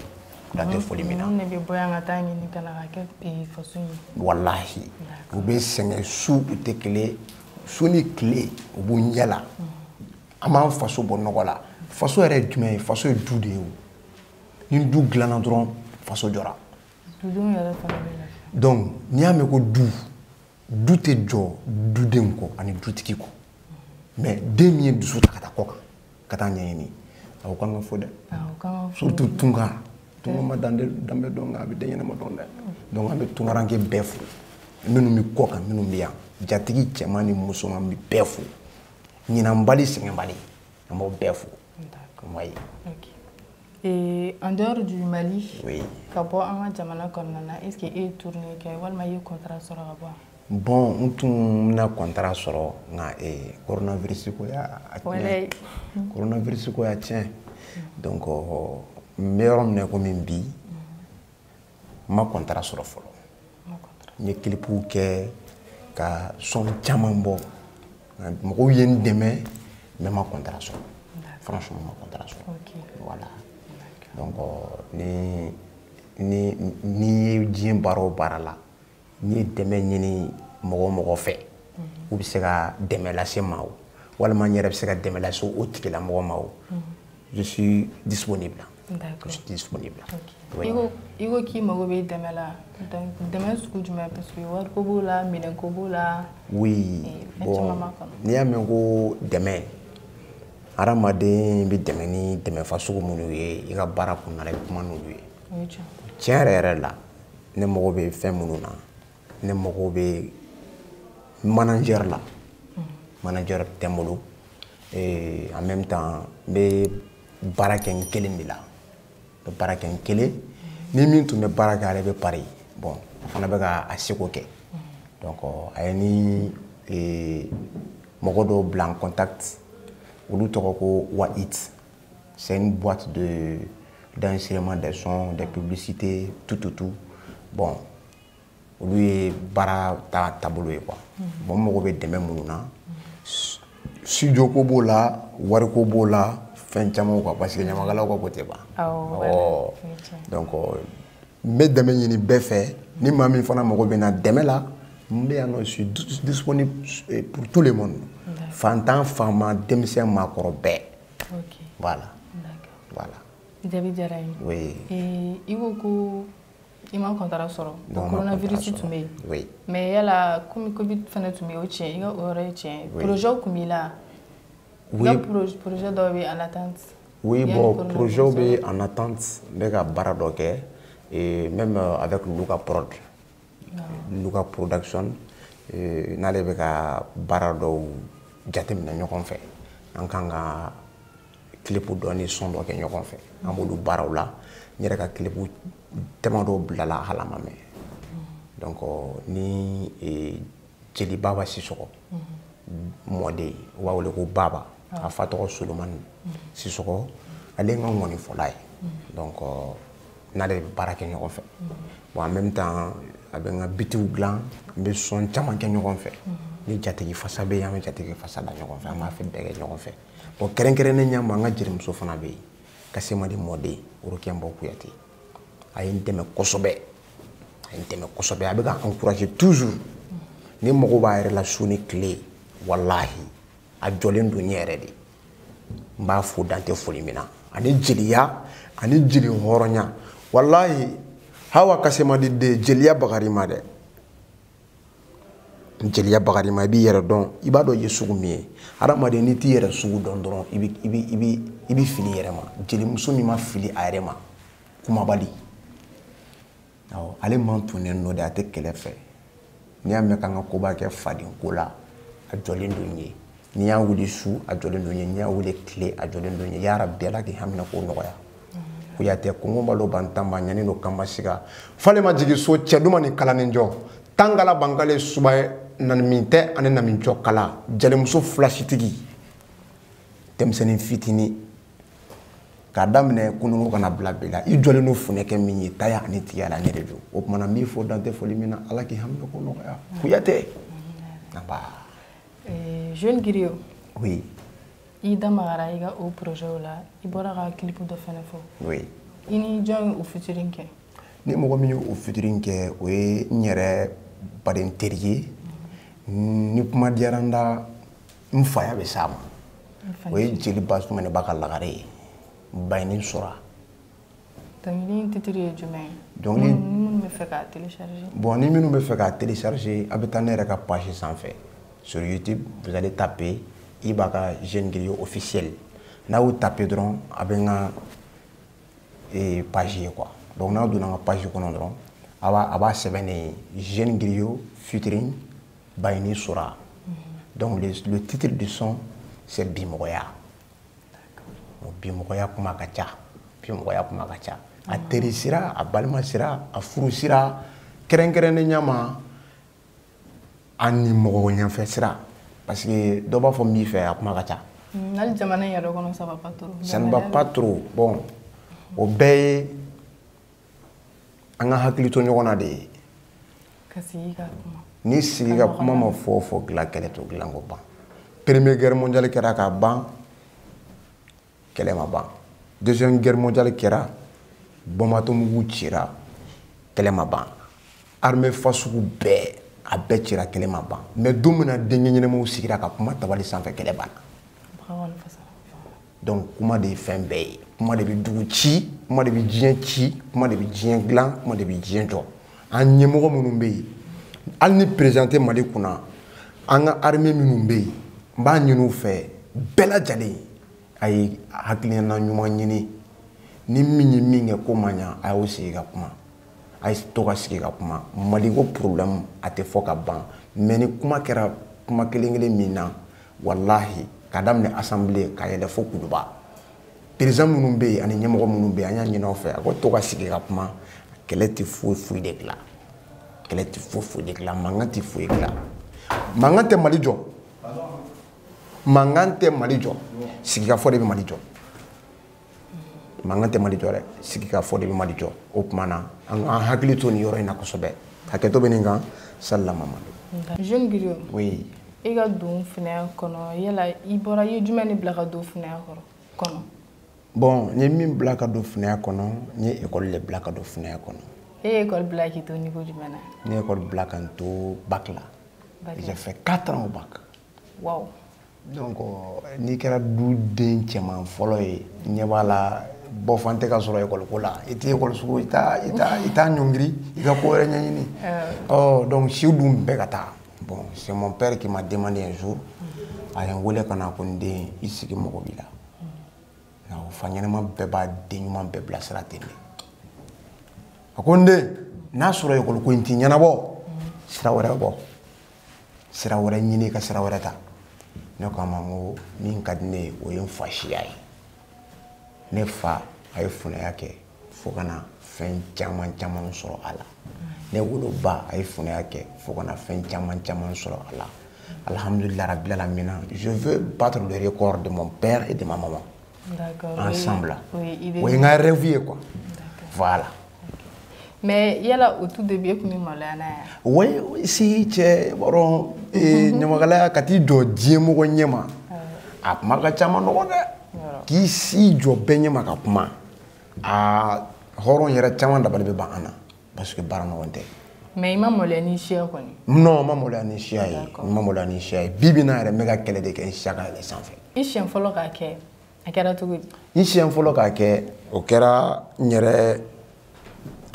dan tɛ foli min na ne bɛ bɔ yan ka taa ɲini ka na ka kɛ eh, faso ye walahi u bɛ sɛgɛn su u tɛ kelen su ni tile u b'u ɲɛ la an b'an faso bɔ nɔgɔ la faso yɛrɛ ye jumɛn ye faso ye du de ye o ni du dilanna dɔrɔn faso jɔra dudenw yɛrɛ fana bɛ lafiya donc n'i y'a mɛn ko du du tɛ jɔ dudenw kɔ ani dutigi kɔ mais den min y'i dusu ta ka taa kɔ kan ka taa ɲɛɲini o kan ka fo dɛ surtout tunkan tunkan ma danbe dɔn nka a bɛ den ɲɛnama dɔn dɛ donc an bɛ tunkaranke bɛɛ fo minnu bɛ kɔ kan minnu bɛ yan jatigi cɛman ni musoman n bɛ bɛɛ fo ɲinanbali sɛgɛnbali an b'aw bɛɛ fo kuma ye Et en dehors du Mali, oui. ka bɔ an ka jamana kɔnɔna na, est-ce que e ye tournée kɛ walima i ye contrat sɔrɔ ka bɔ? Bon, n tun bɛna contrat sɔrɔ nka eh, coronavirus ko y'a tiɲɛ. Coronavirus ko y'a tiɲɛ. Donc n bɛ yɔrɔ min na komi bi, n ma kɔntara sɔrɔ fɔlɔ n ye kilipuw kɛ ka sɔn caman bɔ mɔgɔw ye n dɛmɛ mais n ma kɔntara sɔrɔ franchement n ma kɔntara sɔrɔ voilà donc ni ni n'i ye diɲɛ baara o baara la n'i ye dɛmɛ ɲini mɔgɔ o mɔgɔ fɛ u bɛ se ka dɛmɛ lase n ma o walima n yɛrɛ bɛ se ka dɛmɛ lase o tigilamɔgɔ ma o je suis disponible je suis disponible i ko i ko k'i mago bɛ dɛmɛ la dɛmɛ sugu jumɛn parce que wariko b'o la minɛnko b'o la oui eh, bon n'i y'a mɛn ko dɛmɛ hadamaden bɛ dɛmɛ ni dɛmɛfa sugu minnu ye i ka baara kɔnɔna la i bɛ kuma n'olu ye tiɲɛ yɛrɛ yɛrɛ la ne mago bɛ fɛn minnu na ne mago bɛ manager la manager tɛ n bolo eh, en même temps n bɛ baara kɛ n kelen de la n bɛ baara kɛ n kelen ni min tun bɛ baara kɛ ale bɛ Paris bon a fana bɛ ka a seko kɛ donc a ye n ni eh, mɔgɔ dɔw bila en contact olu tɔgɔ ko Wahit C'est une boîte de d'enregistrement des sons, des publicités, tout, tout, tout. Bon, olu ye baara ta taabolo ye quoi bon n mago bɛ dɛmɛ minnu na studio ko b'o la wariko b'o la fɛn camanw quoi parce que ɲamakalaw ka ko tɛ ban awɔ donc n bɛ dɛmɛ ɲini bɛɛ fɛ ni maa min fana mago bɛ n na dɛmɛ la n bɛ yan nɔ je suis disponible eh, pour tout le monde fantan faama denmisɛn maakɔrɔ bɛɛ voilà voilà jaabi diyara n ye eh, i ko ko i ma kɔntara sɔrɔ coronavirus tun bɛ yen mais yala komi covid fana tun bɛ yen o tiɲɛ i ka o yɔrɔ ye tiɲɛ ye projet tun b'i la i ka projet dɔw bɛ en attente Oui, bon, projet bɛ en attente n bɛ ka baara dɔ kɛ et même euh, avec Luka Prod. Ah. Luka Production euh, n'ale bɛ ka baara dɔw jateminɛ ɲɔgɔn fɛ. An kan ka clip dɔ ni son dɔ kɛ ɲɔgɔn fɛ. An b'olu baaraw la. N yɛrɛ ka clip damadɔ bilala hali a ma mɛɛn. Mm. Donc euh, ni jeli baba sisɔgɔ mɔden u b'a wele ko baba a fa tɔgɔ solomani sisɔgɔ ale ye n ka ŋɔnifɔla ye donc euh, n'ale bɛ baara kɛ ɲɔgɔn fɛ bon en même temps a bɛ n ka bitiw dilan an bɛ sɔn caman kɛ ɲɔgɔn fɛ ni jatigi fasa bɛ yen an bɛ jatigi fasa da ɲɔgɔn fɛ an b'a fɛn bɛɛ kɛ ɲɔgɔn fɛ bon kɛrɛnkɛrɛnnenya ma an ka jelimuso fana bɛ yen kasemadi mɔden orokiya nbɔ kuyate a ye n dɛmɛ kosɛbɛ a ye n dɛmɛ kosɛbɛ a bɛ ka encourager toujours ne mago b'a yɛrɛ la su ni tile walahi a jɔlen don n ye yɛrɛ de n b'a fo dan tɛ foli min na ani jeliya ani jeli hɔrɔnya walahi hawa kasemadi de jeliya bagari ma dɛ jeliya bagari ma i b'i yɛrɛ dɔn i b'a dɔn i ye sugu min ye hadamaden n'i t'i yɛrɛ sugu dɔn dɔrɔn i bɛ fili i yɛrɛ ma jelimuso min ma fili a yɛrɛ ma kumabali awɔ ale mantunnen don dɛ a tɛ kɛlɛ fɛ n'i y'a mɛn k'an ka koba kɛ faden ko la a jɔlen don n ye n'i y'a wuli su a jɔlen don n ye n'i y'a wuli tile a jɔlen don n ye yarabi ala k'i haminanko nɔgɔya kuyatɛ kɔngɔ balo bantanba ɲani don kanbasiga fale ma jigin so cɛ duma ni kalanin jɔ tangala bankale suba ye nanimin tɛ ani namin jɔ kala jalimuso filasitigi denmisɛnnin fitini k'a daminɛ kununko ka na bila bi la i jɔlen don funɛkɛ min ye taya ani tigiya la ne de don o tuma na n b'i fo dan tɛ foli min na ala k'i haminanko nɔgɔya kuyatɛ naba eh, jeune griot oui i da magara i ka o projet la i bɔra ka clip dɔ fɛnɛ fɔ oui i ni jɔn ye o featuring kɛ ni mɔgɔ min ye o featuring kɛ o ye n yɛrɛ baden teri ye ni kuma diyara n da n faya bɛ s'a ma o ye jeli basumaniba ka lagare ye bayini sora dɔnkili in titre ye jumɛn ye donc ni minnu bɛ fɛ k'a télécharger bon ni minnu bɛ fɛ k'a télécharger a bɛ taa ne yɛrɛ ka page sanfɛ sur YouTube vous allez taper Ibaka Jeune Griot officiel n'a y'o taper dɔrɔn a bɛ n ka eh, page ye quoi donc n'a donna n ka page kɔnɔ dɔrɔn a b'a a b'a sɛbɛnnen ye Jeune Griot featuring Bayini Sora. Mhm. Donc le, le titre du son c'est Bimɔgɔya. Bon, bimɔgɔya kuma ka ca. Bimɔgɔya kuma ka ca. A mhm. teri sira, a balima sira, a furu sira, kɛrɛnkɛrɛnnenya ma ani mɔgɔ ɲɛfɛ sira parce que dɔ b'a fɔ n b'i fɛ a kuma ka ca. Mm, hali jamana in yɛrɛ kɔnɔ ça va pas trop. Ça ne va pas trop bon o bɛɛ ye an ka hakili to ɲɔgɔn na de ye ni sigi ka kuma ma fɛn o fɛn dilan kɛlɛ t'o dilan k'o ban première guerre mondiale kɛra ka ban kɛlɛ ma ban deuxième guerre mondiale kɛra bombe atomique cira kɛlɛ ma ban armée fasugu bɛɛ a bɛɛ cira kɛlɛ ma ban mais don min na denkɛ ɲɛnamaw sigira ka kuma tabali sanfɛ kɛlɛ banna donc kuma de ye fɛn bɛɛ ye kuma de bɛ dugu ci kuma de bɛ diɲɛ ci kuma de bɛ diɲɛ dilan kuma de bɛ diɲɛ jɔ an ɲɛmɔgɔ minnu bɛ yen hali ni perezan tɛ mali kunna an ka arime minnu bɛ yen n b'a ɲini u fɛ bɛɛ lajɛlen a ye hakilina ɲuman ɲini ni min ye min kɛ ko ma ɲa a y'o sigi ka kuma a ye to ka sigi ka kuma maliko problème a tɛ fɔ ka ban mais ni kuma kɛra kuma kelen kelen min na walahi ka daminɛ asanbile ka yɛlɛ fo kuluba perezan minnu bɛ yen ani ɲɛmɔgɔ minnu bɛ yen an y'a ɲini aw fɛ a ko to ka sigi ka kuma kɛlɛ tɛ foyi foyi de dilan kɛlɛ tɛ foyi foyi de dilan mankan tɛ foyi dilan mankan tɛ mali jɔ mankan tɛ mali jɔ sigikafɔ de bɛ mali jɔ mankan tɛ mali jɔ dɛ sigikafɔ de bɛ mali jɔ o tuma na an k'an hakili to nin yɔrɔ in na kosɛbɛ hakɛto bɛ nin kan salila mamadu jeune griot oui i ka don finaya kɔnɔ yala i bɔra i ye jumɛn de bila ka don finaya kɔnɔ bon n ye min bila ka don finaya kɔnɔ n ye ekɔli de bila ka don finaya kɔnɔ e ye ekɔli bila k'i to niveau jumɛn na ne ye ekɔli bila ka n to bac la j'ai fait 4 ans au bac Wow. Donc euh, n'i kɛra duden cɛman fɔlɔ ye ɲɛ b'a la bɔfan tɛ ka sɔrɔ ekɔliko la i tɛ ekɔli sugu i t'a i t'a i t'a ɲɔngiri i ka ko wɛrɛ ɲɛɲini ɔ oh, donc si dun bɛ ka taa bon c'est mon père qui m'a demandé un jour a ye n wele ka na ko n den i sigi n mako b'i la i ko fa ɲɛnama bɛɛ b'a den ɲuman bɛɛ bilasira ten de a ko n den n'a sɔrɔ ekɔliko in t'i ɲɛnabɔ sira wɛrɛ bɔ sira wɛrɛ ɲini ka sira wɛrɛ ta ne ko a ma n ko min ka di ne ye o ye n fa siya ye ne fa a ye funaya kɛ fo ka na fɛn caman caman sɔrɔ a la ne woloba a ye funaya kɛ fo ka na fɛn caman caman sɔrɔ a la alhamdulilayi rabil alamina je veux battre le record de mon père et de ma maman ensemble o ye n ka rêve ye quoi voilà mais yala au tout début e tun bɛ maloya n'a ye oui si cɛn b'o rɔ eh, ɲamakalaya ka t'i jɔ diɲɛmɔgɔ ɲɛma a kuma ka ca man nɔgɔn dɛ k'i si jɔ bɛɛ ɲɛma ka kuma aa hɔrɔn yɛrɛ caman dabali bɛ ban an na parce que baara nɔgɔn tɛ mais i ma maloya n'i siya kɔni non n ma maloya ni siya ye n ma maloya ni siya ye bi bi in na yɛrɛ n bɛ ka kɛlɛ de kɛ n siya ka yɛlɛ sanfɛ i siɲɛ fɔlɔ k'a kɛ a kɛra cogo di n siɲɛ fɔlɔ k'a kɛ o kɛra n yɛrɛ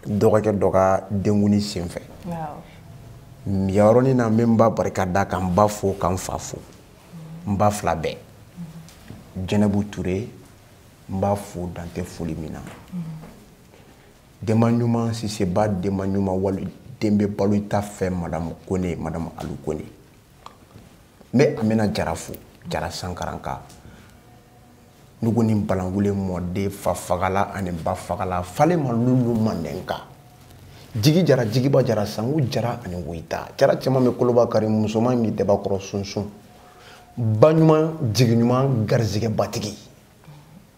dɔgɔkɛ dɔ ka denkundi senfɛ yɔrɔnin na n bɛ n ba barika da ka n ba fo ka n fa fo n ba fila bɛɛ jɛnɛbu ture n b'a fo dan tɛ foli min na denba ɲuman siseba denba ɲuman waliden bɛ balo i ta fɛ madamu kɔnɛ madamu alu kɔnɛ n bɛ amina jara fo jara sankaranka nugu ni balangule mɔden fa fagala ani ba fagala fale ma lulu mandenka jigi jara jigiba jara sangu jara ani woyita jara cɛman bɛ koloba kari musoman bɛ daba kɔrɔ sunsun ba ɲuman jigi ɲuman garisigɛba tigi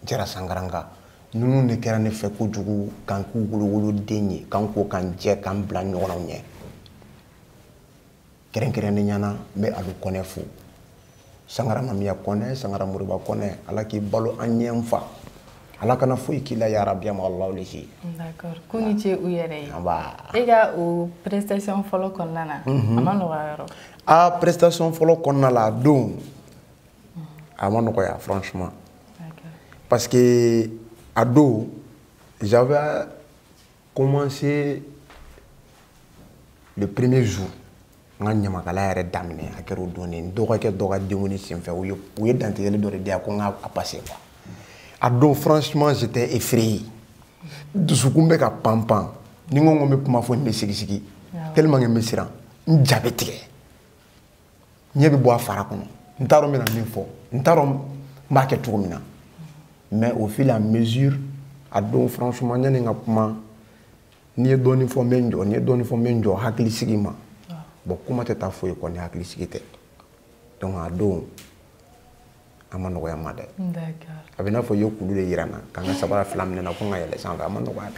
jara sankaranka ninnu de kɛra ne fɛ kojugu k'an k'u wolowoloden ye k'an ko k'an jɛ k'an bila ɲɔgɔnnaw ɲɛ kɛrɛnkɛrɛnnenya na n bɛ alu kɔnɛ fo sangara mamiya kɔnɛ sangara moriba kɔnɛ ala k'i balo an ɲɛ n fa ala kana foyi k'i la yarabi ma alaw le si d'accord ko ni ce u yɛrɛ ye e ka o prestation fɔlɔ kɔnɔna na a ma nɔgɔya yɔrɔ a prestation fɔlɔ kɔnɔna la a don a ma nɔgɔya franchement parce que a don j'avais commencé le premier jour n ka ɲamakala yɛrɛ daminɛ a kɛra o don de n dɔgɔkɛ dɔ ka denkundi senfɛ u ye u ye dantigɛli dɔ de di yan ko n ka a passer quoi a don franchement j'étais effrayé dusukun bɛ ka pan pan ni n ko n ko n bɛ kuma fɔ n bɛ sigisigi tellement que n bɛ siran n ja bɛ tigɛ ɲɛ bɛ bɔ a fara kɔnɔ n t'a dɔn n bɛna min fɔ n t'a dɔn n b'a kɛ cogo min na mais au fur et à mesure a don franchement yanni n ka kuma ni n ye dɔɔnin fɔ n bɛ n jɔ ni n ye dɔɔnin fɔ n bɛ n jɔ hakili sigi man bon kuma tɛ taa foyi kɔ ni hakili sigi tɛ donc a don a ma nɔgɔya n ma dɛ a bɛ n'a fɔ i ye kulu de yira n na ka n ka sabara fila minɛ n na ko n ka yɛlɛ sanfɛ a ma nɔgɔya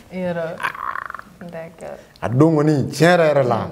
dɛ a don kɔni tiɲɛ yɛrɛ yɛrɛ la. Mm.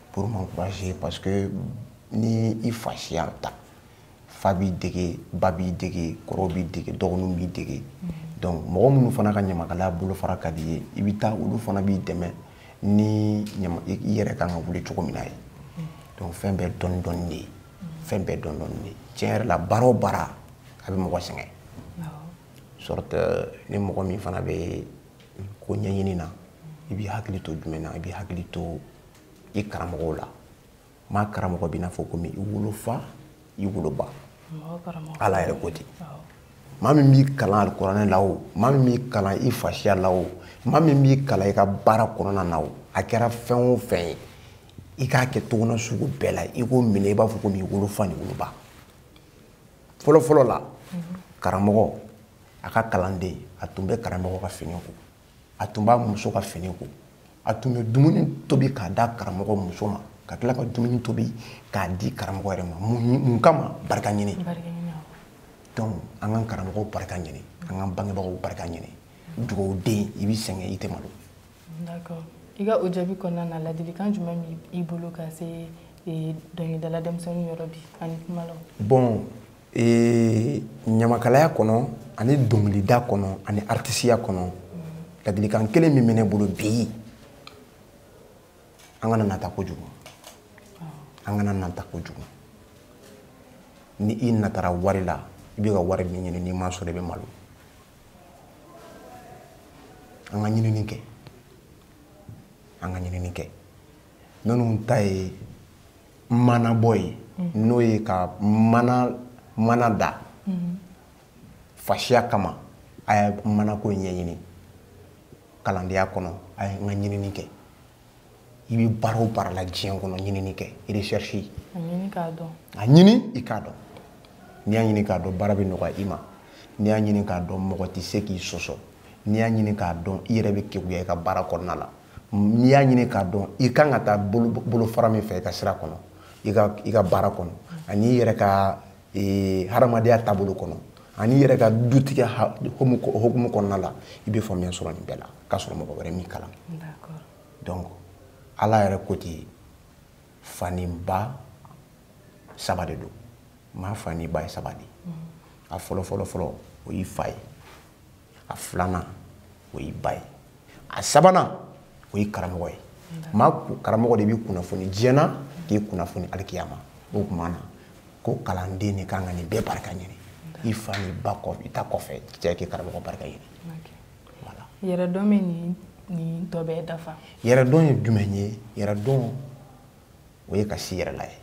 pour m'encourager parce que ni i fasiya ta fa b'i dege ba b'i dege kɔrɔ b'i dege dɔgɔninw b'i dege donc mɔgɔ minnu fana ka ɲamakalaya bolofara ka di i ye i bɛ taa olu fana b'i dɛmɛ ni i yɛrɛ kan ka wuli cogo min na ye donc fɛn bɛɛ dɔɔni dɔɔni de ye fɛn bɛɛ dɔɔni dɔɔni de ye tiɲɛ yɛrɛ la baara o baara a bɛ mɔgɔ sɛgɛn surtout ni mɔgɔ min fana bɛ ko ɲɛɲini na i b'i hakili to jumɛn na i b'i hakili to i karamɔgɔw la maa karamɔgɔ bɛ i n'a fɔ komi i wolofa i woloba ala yɛrɛ ko ten maa min b'i kalan alikuranɛ la o maa min b'i kalan i fasiya la o maa min b'i kalan i ka baara kɔnɔna na o a kɛra fɛn o fɛn ye i k'a kɛ cogoya sugu bɛɛ la i k'o minɛ i n'a fɔ komi i wolofa ni woloba fɔlɔfɔlɔ la karamɔgɔ a ka kalanden a tun bɛ karamɔgɔ ka fini ko a tun b'a muso ka fini ko a tun bɛ dumuni tobi k'a d'a karamɔgɔ muso ma ka tila ka dumuni tobi k'a di karamɔgɔ yɛrɛ ma mun kama barika ɲini donc an k'an karamɔgɔw barika ɲini an k'an bangebagaw barika ɲini dugawuden i bɛ sɛgɛn i tɛ malo d'accord i ka o jaabi kɔnɔna na ladilikan jumɛn b'i bolo ka se dɔnkilidala denmisɛnninw yɔrɔ bi ani kumalaw bon ɲamakalaya kɔnɔ ani dɔnkilida kɔnɔ ani aritisiya kɔnɔ ladilikan kelen min bɛ ne bolo bi an kana nata kojugu an kana nata kojugu ni i natara wari la i bɛ ka wari min ɲini n'i m'a sɔrɔ i bɛ malo an ka ɲinini kɛ an ka ɲinini kɛ minnu ta ye maanabɔ ye n'o ye ka maana da fasiya kama a ye maanako ɲɛɲini kalandenya kɔnɔ a y'an ka ɲinini kɛ i bɛ baara o baara la diɲɛ kɔnɔ ɲinini kɛ recherche a ɲini i k'a dɔn n'i y'a ɲini k'a dɔn baara bɛ nɔgɔya i ma n'i y'a ɲini k'a dɔn mɔgɔ tɛ se k'i sɔsɔ n'i y'a ɲini k'a dɔn i yɛrɛ bɛ keguya i ka baara kɔnɔna la n'i y'a ɲini k'a dɔn i kan ka taa bolofara min fɛ i ka sira kɔnɔ i ka baara kɔnɔ ani i yɛrɛ ka e, hadamadenya taabolo kɔnɔ ani i yɛrɛ ka dutigiya hukumu kɔnɔna la i bɛ faamuya sɔrɔ nin bɛɛ la k'a sɔrɔ mɔgɔ wɛrɛ m'i kalan donc ala yɛrɛ ko ten fa ni ba saba de don maa fa ni ba ye saba de a fɔlɔ fɔlɔ fɔlɔ o y'i fa ye a filanan o y'i ba ye a sabanan o y'i karamɔgɔ ye maa karamɔgɔ de b'i kunnafoni diɲɛ na k'i kunnafoni alikiyama o tuma na ko kalanden de kan ka nin bɛɛ barika ɲini i fa n'i ba kɔ i ta kɔfɛ cɛ k'i karamɔgɔ barika ɲini yɛrɛdɔn bɛ nin tɔ bɛɛ dafa yɛrɛdɔn ye jumɛn ye yɛrɛdɔn o ye ka s'i yɛrɛ la ye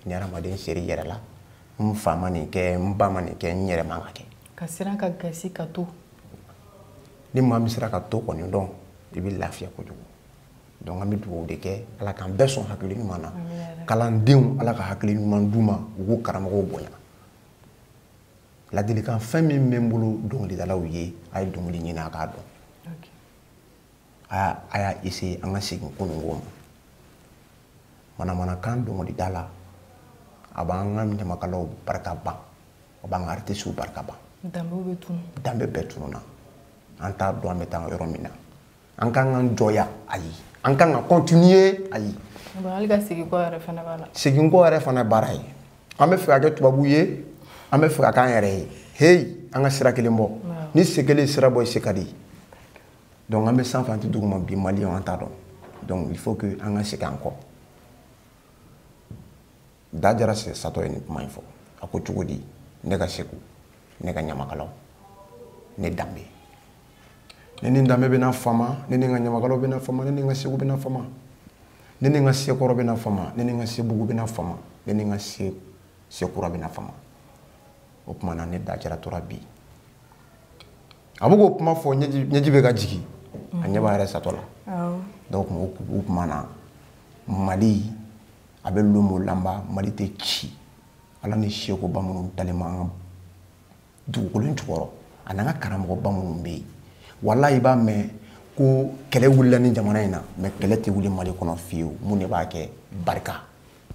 ni hadamaden ser'i yɛrɛ la n fa ma nin kɛ n ba ma nin kɛ n yɛrɛ man k'a kɛ ka siran ka gasi ka to ni maa min sera ka to kɔni dɔn i bɛ lafiya kojugu donc an bɛ dugawu de kɛ ala k'an bɛɛ sɔn hakili ɲuman na kalandenw ala ka hakili ɲuman d'u ma u k'u karamɔgɔw bonya ladilikan fɛn min bɛ n bolo dɔnkilidalaw ye a ye dɔnkili ɲini a k'a dɔn aa a y'a essayer an ka segin kununko ma manamanakan dɔnkilida la a b'an ka ɲamakalaw barika ban a b'an ka aritisiw barika ban danbe bɛɛ tununa an t'a dɔn an bɛ taa yɔrɔ min na an kan ka jɔ yan ayi an kan ka continuer ayi segin kɔ yɛrɛ fana b'a la segin kɔ yɛrɛ fana baara ye an b'a fɛ ka kɛ tubabu ye an b'a fɛ ka k'an yɛrɛ ye heyi an ka sira kelen bɔ ni sen kelen sira bɔ i se ka di donc an bɛ sanfɛ an tɛ duguma bi maliyɛnw an t'a dɔn donc il faut que an ka segin an kɔ da jara satɔ ye nin kuma in fɔ a ko cogo di ne ka segu ne ka ɲamakalaw ne danbe ne ni danbe bɛna fama ne ni n ka ɲamakalaw bɛna fama ne ni n ka segu bɛna fama ne ni n ka sekɔrɔ bɛna fama ne ni n ka sebugu bɛna fama ne ni n ka sekura bɛna fama o tuma na ne da jara tora bi a bɛ k'o kuma fɔ ɲɛji bɛ ka jigin a ɲɛ b'a yɛrɛ satɔ la donc o kuma na mali a bɛ lomo lanba mali tɛ ci ala ni seko ba minnu dalen b'an ka dugukolo in jukɔrɔ a n'an ka karamɔgɔba minnu bɛ yen walahi i b'a mɛn ko kɛlɛ wulila nin jamana in na mais kɛlɛ tɛ wuli mali kɔnɔ fiyewu mun de b'a kɛ barika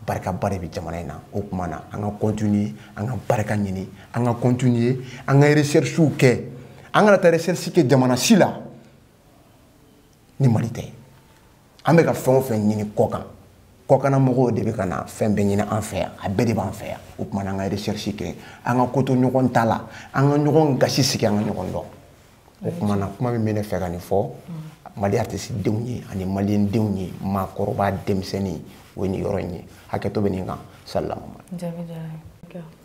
barikaba de bɛ jamana in na o tuma na an ka continuer an ka barika ɲini an ka continuer an ka recherchew kɛ an kana taa recherche kɛ jamana si la ni mali tɛ an bɛ ka fɛn o fɛn ɲini kɔkan kɔkana mɔgɔw de bɛ ka na fɛn bɛɛ ɲini an fɛ yan a bɛɛ de b'an fɛ yan o tuma na an ka recherche kɛ an ka ko to ɲɔgɔn ta la an ka ɲɔgɔn gasi sigi an ka ɲɔgɔn dɔn o kuma na kuma min bɛ ne fɛ ka nin fɔ mali artiste denw ye ani maliyɛn denw ye maakɔrɔba denmisɛnnin o ye nin yɔrɔ in ye hakɛto bɛ nin kan salamu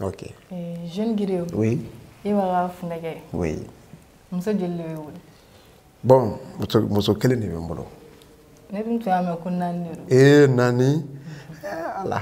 ok eh, jeune giri oui e b'a ka funɛkɛ oui muso joli de b'e bolo bon muso kelen de bɛ n bolo ne dun tun y'a mɛn ko naani de don ee naani eh, ala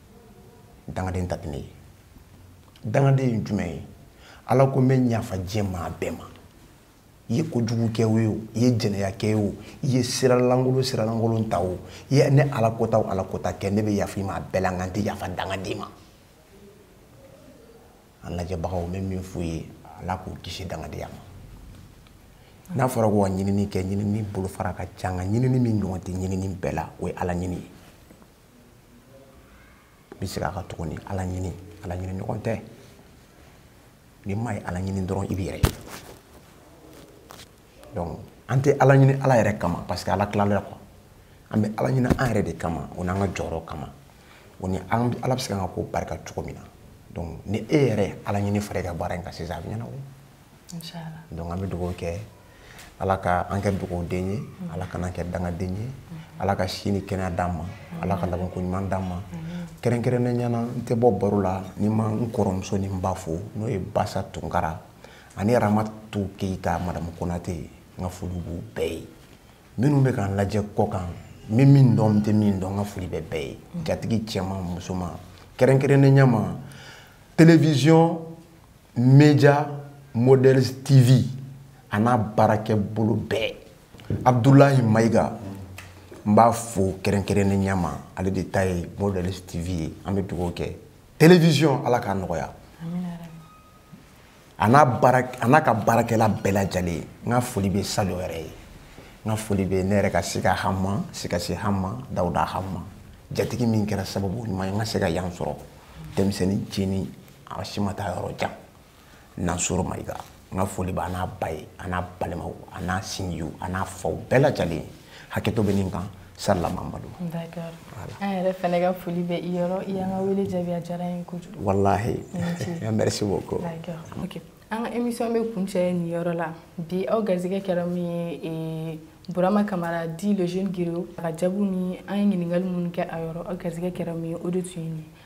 dangaden ta tɛ ne ye dangaden ye jumɛn ye ala ko n bɛ yafa diɲɛ maa bɛɛ ma i ye kojugu kɛ o i ye jɛnɛya kɛ o i ye sira lankolon sira lankolon ta o i ye ne ala kota o ala kota kɛ ne bɛ yafa i ma a bɛɛ la nka n tɛ yafa dangaden ma an lajɛbagaw n bɛ min f'u ye ala k'u kisi dangadenya ma n'a fɔra ko ka ɲinini kɛ ɲinini bolofara ka ca nka ɲinini min ɲɔgɔn tɛ ɲinini bɛɛ la o ye ala ɲini ye n bɛ segin a kan tuguni ala ɲini ala ɲini ɲɔgɔn tɛ ni maa ye ala ɲini dɔrɔn i b'i yɛrɛ ye donc an tɛ ala ɲini ala yɛrɛ kama parce que ala tilala quoi an bɛ ala ɲini an yɛrɛ de kama o n'an ka jɔyɔrɔ kama o ni ala bɛ se ka an ka ko barika cogo min na donc ni e yɛrɛ ala ɲini fara i ka baara in kan sisan a bɛ ɲɛnabɔ donc an bɛ dugawu kɛ ala ka an kɛ dugawuden ye ala kana an kɛ dangaden ye ala ka si ni kɛnɛya d'an ma ala ka labanko ɲuman d'an ma kɛrɛnkɛrɛnnenya la n tɛ bɔ baro la ni n ma n kɔrɔmuso ni n ba fo n'o ye basa tunkara ani aramatu keyita madamu konatɛ ye n ka foli b'u bɛɛ ye minnu bɛ k'an lajɛ kɔkan n bɛ min dɔn n tɛ min dɔn n ka foli bɛ bɛɛ ye jatigi cɛman musoman kɛrɛnkɛrɛnnenya ma télévision média models tv a n'a baarakɛ bolo bɛɛ abdulahi mayiga n b'a fo kɛrɛnkɛrɛnnenya ma ale de ta ye models tv ye an bɛ dugawu kɛ télévision ala k'a nɔgɔya a n'a baara a n'a ka baarakɛla bɛɛ lajɛlen n ka foli bɛ salo yɛrɛ ye n ka foli bɛ ne yɛrɛ ka se ka hama se ka se hama dawuda hama jatigi min kɛra sababu ɲuman ye n ka se ka yan sɔrɔ denmisɛnnin cɛnin a si ma taa yɔrɔ jan nansoro mayiga n ka foli b'a n'a ba ye a n'a balimaw a n'a sinjiw a n'a faw bɛɛ lajɛlen hakɛto bɛ nin kan sarila mamadu d'accord an yɛrɛ fɛnɛ ka foli bɛ i yɔrɔ i y'an ka wele jaabi a diyara n ye kojugu walahi merci beaucoup d'accord ok an ka émission bɛ kuncɛ nin yɔrɔ la bi aw garisɛgɛ kɛra min ye eh, burama kamara dit le jeune griot a ka jaabiw ni an ye ɲininkali minnu kɛ a yɔrɔ aw garisɛgɛ kɛra min ye o de tun ye nin ye